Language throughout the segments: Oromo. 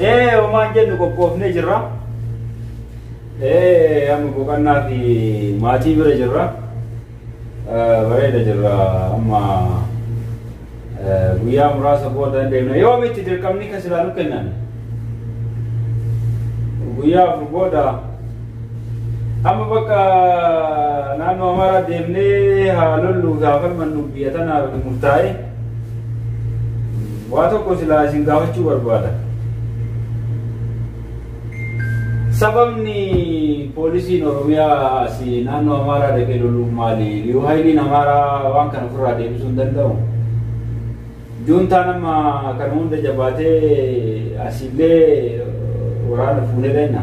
Ee homaan jennu qophoofnee jirra. Ee amma boqonnaa fi maatii bira jirra. Bareeda jirra amma guyyaa muraasa booda deemna. Yoo miti dirqamni kan silaa nu kennan. Guyyaa afur booda amma bakka naannoo Amaaraa deemnee haa lolluuf haa falmannu biyya tanaaf murtaa'e. Waa tokko silaa isin gaafachuu barbaada. Sababni poolisiin Oromiyaa asii naannoo Amaaraa dhaqee loluuf maali? Liyu Hayiliin Amaaraa waan kana ofirraa deebisuu hin danda'u. Juuntaan amma kana hunda jabaatee asiillee waraana fuunee dhayna.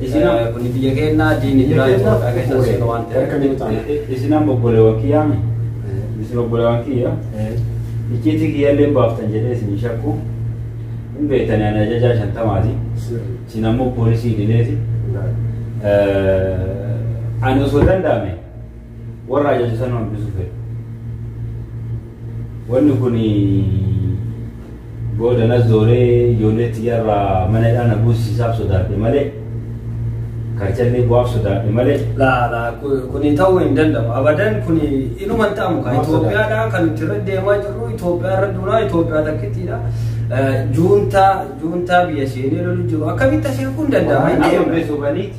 Isina kuni biyya keenna diini jira Itoophiyaa keessa seenu waan ta'eef. Isinan bobbolewan kiyyaa mi? Isin obbolewan kiyya? Icciitii kiyyallee hin baaftan jedhee isin hin shakku. Hin beektani ani ajajaa shantamaati. Isin ammoo poolisii idileeti. Ani osoo danda'ame warra ajaja san hambisu fedhu. Wanni kun booda na zooree ijoollee xiyyarraa mana hidhaa na buusisaaf sodaadhe malee karchallee bu'aaf sodaadhe malee Laa laa ku- kuni ta'uu hin danda'u. Abadan kuni inuma hin ta'amu kan Maaf Itoophiyaadha kan nuti irra deemaa jirru Itoophiyaa irra duunaa Itoophiyaa takkittiidha. Eh, Juuntaa juuntaa biyya seenee lolu jiru akkamitti asii kun danda'ama hin amma deemne. beeksisaniiti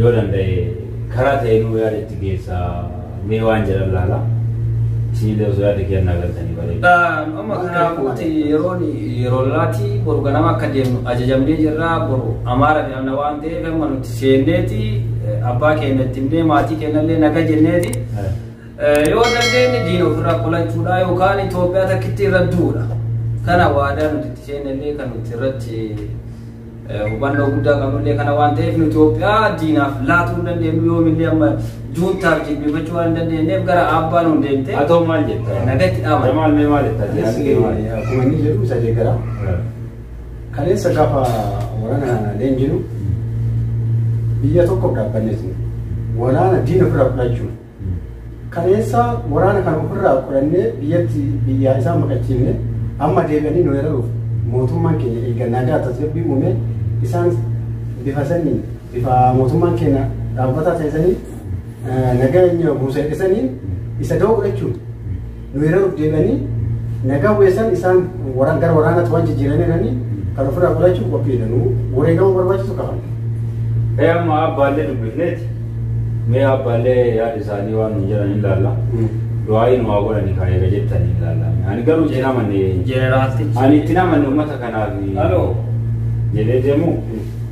yoo danda'e karaa ta'e nuu yaada itti geessa mee waan jedhan laala siinillee osoo yaada kennaa galtanii bareeda. Amma kanaafuuti yeroon yeroo laati boru ganama akka deemnu ajajamnee jirra boru amaara jedhamna waan ta'eef amma nuti seenneeti abbaa keenya itti himnee maatii keenyallee naga jenneeti. Yoo dandeenye diina ofirraa qolachuudha yookaan Itoophiyaa takkitti irra duudha. Kana waadaa nuti itti seennellee kan nuti irratti Hubannoo guddaa qabnullee kana waan ta'eef nu Itoophiyaa diinaaf laatuu hin dandeenyu yoomillee amma juuntaaf jilbifachuu waan hin dandeenyeef gara aabbaa nuun deemte. Haa ta'u maal jetta? Nagatti dhaama. Jamaal mee maal jetta? Anis akkuma inni jedhu isa deeggara. Kaleessa gaafa waraana leenjinu biyya tokkoof dhaabbanneetu waraana diina ofirraa fudhachuuf Kaleessa waraana kana ofirraa qolannee biyyatti biyyaa isaa maqachiifne amma deebi'anii nu weeraruuf mootummaan keenya erga nagaa tasgabbii uumee isaan bifa saniin bifa mootummaan keenya dhaabbataa ta'e saniin nageenya buusa jedhe saniin isa da'oo godhachuun Weeraruuf deemanii nagaa weessan isaan waraan gara waraanaatti waan jijjiiraniiranii kan ofirraa godhachuuf qophiidha. Nu wareegama barbaachisu qaban. Ee amma abbaallee dubbifneeti. Mee abbaallee yaada isaanii waan nuun jedhan hin laalla. Du'aayi nu haa godhani kaa eega jettanii hin laalla. Ani garuu itti namanne. Jeneraaltichi. Ani itti namanne uummata kanaaf. Aloo. Jedhee deemu.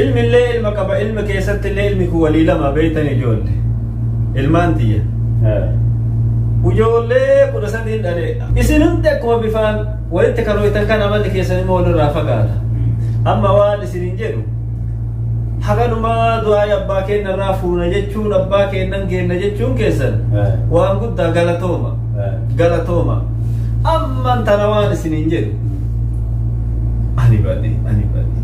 ilmillee ilma qaba ilma keessatti illee ilmi kun walii lama beektan ijoolle ilmaan tiyya ijoollee kudha sadiin dhale isin hundi akkuma bifaan walitti kan ho'itan kan amalli keessan immoo walirraa fagaata amma waan isinin jedhu haganumaa du'aa abbaa keenya irraa fuuna jechuun abbaa keenyan geenna jechuun keessan waan guddaa galatooma galatooma amman tana waan isiniin jedhu ani badhe ani badhe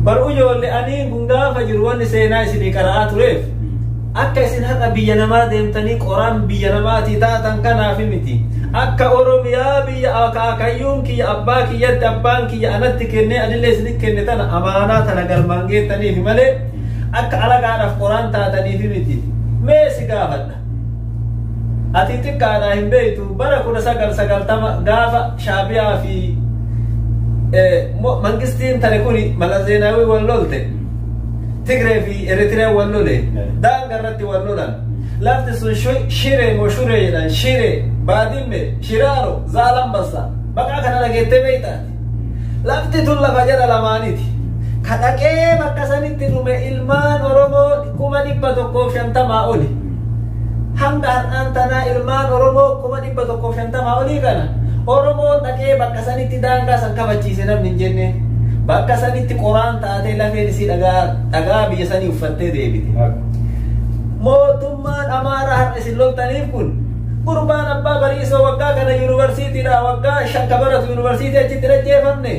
baruu ijoollee ani kun gaafa jiru wanni seenaa isinii qara'aa tureef akka isin har'a biyya namaa deemtanii qoraan biyya namaatii taatan kanaaf miti akka oromiyaa biyya akaakayyuun kiyya abbaa kiyyatti abbaan kiyya anatti kennee anillee isinitti kenne tana amaanaa tana galmaan geettaniif malee Akka alagaadhaaf qoraan taataniif miti. Mee si gaafadha. Ati xiqqaadhaa hin beektu bara kudha sagal sagaltama gaafa shaabiyaa fi mangistiin tare kuni malazeenaawii wal lolte. Tigree fi Eritrea wal lole. Daanga irratti wal lolan. Lafti sun shiree moo shuree jedhan shiree baadimme shiraaro zaalambassa. Maqaa kana dhageettee beektaa? Lafti tun lafa jara lamaaniti. Ka dhaqee bakka sanitti dhume ilmaan Oromoo kuma dhibba tokkoof shantamaa oli. Hanga har'aan tanaa ilmaan Oromoo kuma dhibba tokkoof shantamaa olii kana Oromoo dhaqee bakka sanitti daangaa san kabachiise namni hin jenne. Bakka sanitti qoraan taatee lafeen isii dhagaa dhagaa biyya sanii uffattee deebite. Mootummaan Amaaraa har'a isin loltaniif kun Gurbaan Abbaa Bariisoo waggaa kana yuunivarsiitiidha. Waggaa shan ka baratu yuunivarsiitii achitti hin ajjeefamne.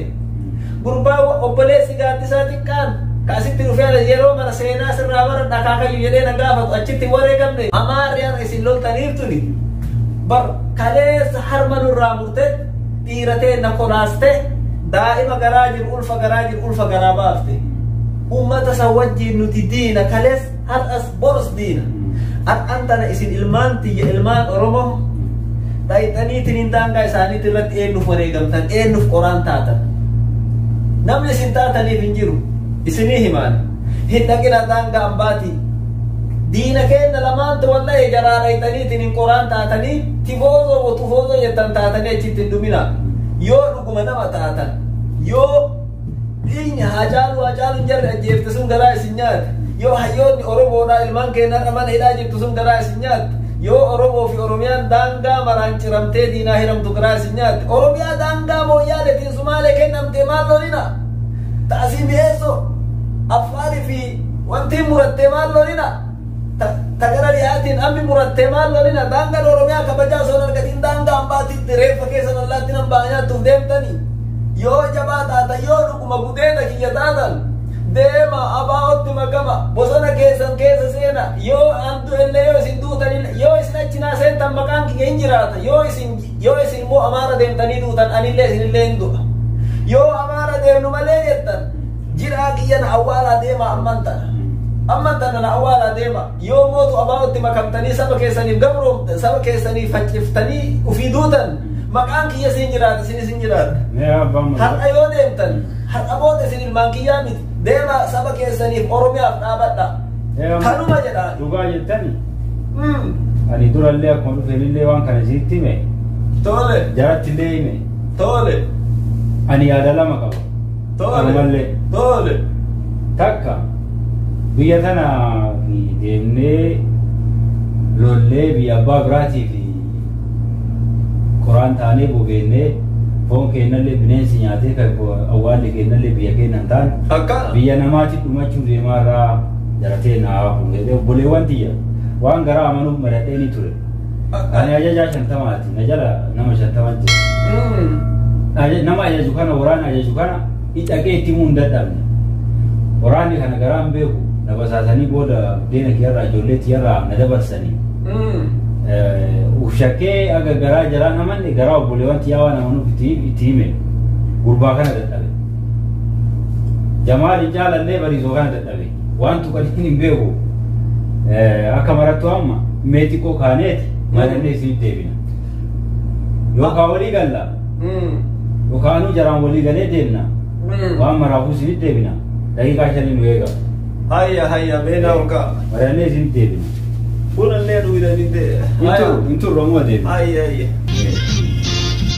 Gurbaa obboleessi gaaddisaa xiqqaan ka asitti dhufee yeroo mara seenaa sirraa bara dhakaakayyu jedhee na gaafatu achitti hin wareegamne. Amaarri har'a isin loltaniif tuni bar kaleessa harma nurraa murte dhiiratee na kolaaste daa'ima garaa jiru ulfa garaa jiru ulfa garaa baafte. Uummata san wajjin nuti diina kaleessa. Har'as borus diina. Har'an tana isin ilmaan tiyya ilmaan Oromoo dhayxaniitiin daangaa isaaniitti irratti eenyuuf wareegamtan eenyuuf qoraan taatan. Namni isin taataniif hin jiru. Isinii himaan. Hin dhaqina daangaa ambaatii. Diina keenya lamaantu wallahi jaraa dhayxaniitiin hin qoraan taatanii tifoozoo botufoozoo jettan taatanii achitti hin dhuminaa. Yoo dhuguma nama taatan yoo Dhiinya Haacaaluu Haacaaluu hin jarre ajjeefte sun garaa isin nyaate. Yoo hayyoonni Oromoodhaa ilmaan keenyarra mana hidhaa jirtu sun garaa isin nyaatte. Yoo Oromoo fi Oromiyaan daangaa maraan ciramtee diinaa hiramtu garaa isin nyaatte. Oromiyaa daangaa mooyyaaletiin Sumaalee kennamtee maal lolina? Taasii mi'eessoo Affaari fi wantiin murattee maal lolina? Ta, ta gara dhiyaatiin ammi murattee maal lolina? Daangaan Oromiyaa kabajaa osoo hin argatiin daangaa ambaatiitti reeffa keessan allaattiin ambaa nyaattuuf deemtanii? Yoo jabaa taatan yoo dhuguma gudeeda kiyya taatan deema abaa'otti makama bosona keessan keessa seena yoo an du'ellee yoo isin duutanille yoo isin achi naa seentan maqaan kiyya hin jiraata yoo isin yoo isin immoo amaara deemtanii duutan anillee isinillee hin du'a yoo amaara deemnu malee jettan Jiraa kiyya na awwaalaa deemaa ammaan tana. Ammaan tana na awwaalaa deemaa. Yoo mootu abaa'otti makamtanii saba keessaniif gabroomtan saba keessaniif facciftanii ufii duutan maqaan kiyya siin jiraata isinis hin jiraata. Mee abbaan maqaa. Har'a yoo deemtan har'a booda isin ilmaan kiyyaa miti. Deemaa saba keessaniif Oromiyaaf dhaabadha. Ee, amma- Kanuma jedhaan. Dhugaa jettani. Mm. Ani durallee akkuma dhufeenillee waan kana isiitti hime. Tole, Jarattillee hime. tole. Ani yaada lama qaba. Tole. Tole. Takka biyya tana fi deemnee lollee biyya abbaa biraatii fi koraan taanee bobeennee foon keennallee bineensi nyaatee kan awwaalli keennallee biyya keenya hin taane Akka. biyya namaatti dhumachuu deemaa irraa jaratee naa hafu obboleewwan tiyya waan garaa amanuuf maradhee ni ture. Ani ajajaa shantamaati. Na jala nama shantama jira. Aja- Nama ajaju kana waraana ajaju kana dhaqee itti himuu hin dadhabne. Waraanni kana garaa hin beeku. Na basaasanii booda deena kiyyarraa ijoollee tiyyarraa na dabarsanii. Ushakkee aga garaa jaraa namanne garaa obboleewwan tiyyaa waan amanuuf itti itti hime. Gurbaa kana dadhabe. Jamaal hin jaalanne bariisoo kana dadhabe. Waan tuqan hin hin beeku. Eh, Akka marattu amma mee xiqqoo kaaneeti malatnee isinitti deebina. Yookaan walii galla Mm. yookaanuu jaraan walii galee deemna. Mm. Waan maraafuu isinitti deebina. Daqiiqaa shanii nu eega. Hayya hayya beena ogaa. Malatnee isinitti deebina. Buna illee dhuguudhaan hin ta'e. Hin turre amma deebina. Hayya hayya. Eh.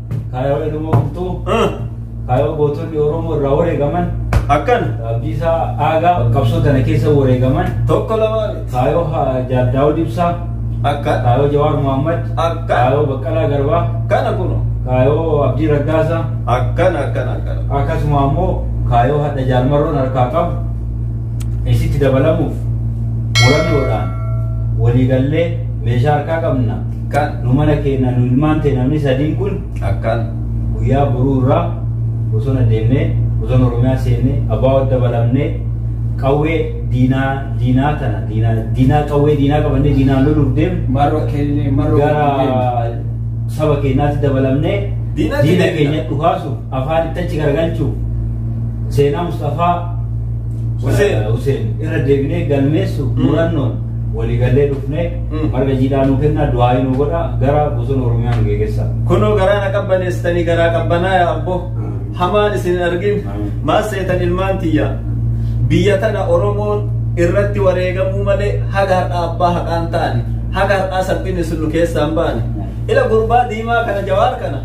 Kaayoo Oromoo Bultuu, Ah, kaayoo gootonni Oromoo irraa wareegaman, Akkana. Abdiisaa Aagaa qabsoo tana keessa wareegaman, Tokko lama miti. kaayoo ha- Jaal Daawud Ibsaa, Akkana. kaayoo Jawaar Muhammad, Akkana. kaayoo Baqqalaa Garbaa, Kana kuno. kaayoo Abdii Raggaasaa, Akkana akkana akkana. akkasuma ammoo kaayoo hadha jaalmarroon harkaa qabu isitti dabalamuuf murannoodhaan waliigallee meeshaa harkaa qabna Ka nu mana keenya nu ilmaan ta'e namni sadiin kun akkaan guyyaa boruu irraa bosona deemnee bosona Oromiyaa seennee abbaa wadda balamnee qawwee diinaa diinaa tana diinaa diinaa qawwee diinaa qabannee diinaan loluuf deemnu Marro keenya marro gara saba keenyaatti dabalamnee Diina diina keenya keenya dhukaasuuf afaan itti achi garagalchuuf seenaa Mustafaa Huseen. Huseen irra deebinee galmeessuuf murannoon Walii gallee dhufnee Mm. marga jiidhaa nuu kennaa du'aayii nuu godhaa gara bosona Oromiyaa nu geegessa. Kunoo garaa na qabbaneessitanii garaa qabbanaa yaa abboo. Amiin. Hamaan isin hin argin. Amiin. Maal seetan ilmaan tiyya. Biyya tana Oromoon irratti wareegamuu malee haga har'aa abbaa haqaan ta'ani. Haga har'aa salphina isin nu keessaa hin baane. Ila gurbaa diimaa kana jawaar kana.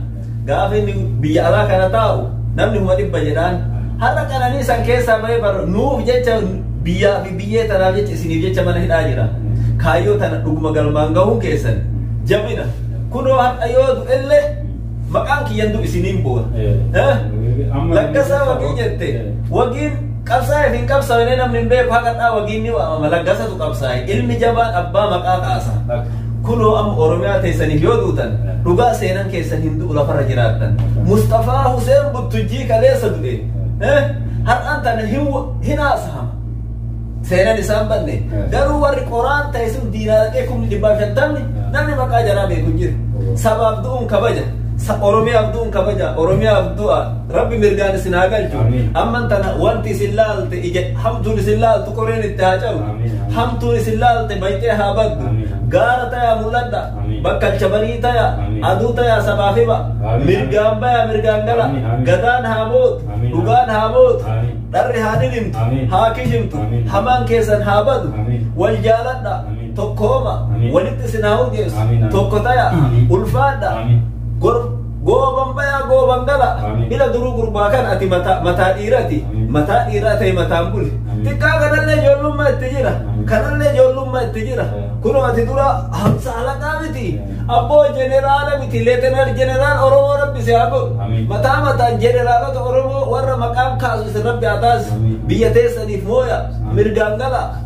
Gaafa inni biyya alaa kana taa'u namni kuma dhibba jedhaan har'a qananii san keessaa bahee bar nuuf jecha biyyaa fi biyyee tanaaf jecha isiniif jecha mana hidhaa jira. Kaayyoo tana dhuguma galmaan gahuun keessan jabina kunoo har'a yoo du'ellee maqaan kiyyan du'u isiniin boona. Eh? Amma- Lakkasaa wagii jette wagiin Qabsaa'eef hin qabsawinee namni hin beeku haqadhaa wagiin ni waamama laggasatu qabsaa'e ilmi jabaan abbaa maqaa kaasa kunoo amma oromiyaa teessaniif yoo duutan dhugaa seenan keessan hin du'u lafarra jiraattan musxafaa huseen buttujjii kaleessa du'e har'aan tana hin haasahama seenan isaan banne garuu warri qoraan ta'e sun diinaa dhaqee kumni dhibbaa shantamni namni maqaa jaraa beeku jiru sabaaf du'uun kabaja oromiyaaf du'uun kabaja oromiyaaf du'a Rabbi mirgaan isin haa galchu. Amiin. Amman tana wanti isin laalte ija hamtuun isin laaltu qoreen itti haa cabu. Amiin, amiin. Hamtuun isin laalte bayxee haa baddu. Amiin, amiin. Gaara tayaa mul'adha. Amiin. Bakka alchabarii tayaa. Amiin. Aduu tayaa sabaaf hiba. Amiin, Mirgaan bayaa mirgaan gala. Amiin, amiin. Gadaan haa mootu. Amiin, Dhugaan haa mootu. Amiin. Dharri haa dhidhimtu. Amiin. Haa kishimtu. Amiin. Hamaan keessan haa badu. Amiin. Wal jaaladha. Amiin. Tokkooma. Amiin. Walitti isin haa urgeessu. Amiin, amiin. Tokko tayaa. Amiin. Ulfaadha. Amiin. Gorf Gooban bayaa gooban gala. Amiin. Ila duruu gurbaa kan ati mataa mataa dhiirati. Amiin. Mataa dhiiraa ta'e mataan buli. Amiin. Xiqqaa kanallee ijoollummaa itti jira. Amiin. Kanallee ijoollummaa itti jira. Amiin. Kunoo ati dura hamsa halaqaa miti. Amiin. Abboo jeneraala miti. Leetenar jeneraal Oromoo rabbi si haa godhu. Amiin. Mataa mataan jeneraalota Oromoo warra maqaan kaasu isin rabbi haa taasisu. Amiin. Biyya teessaniif mooya. Amiin. Mirgaan gala.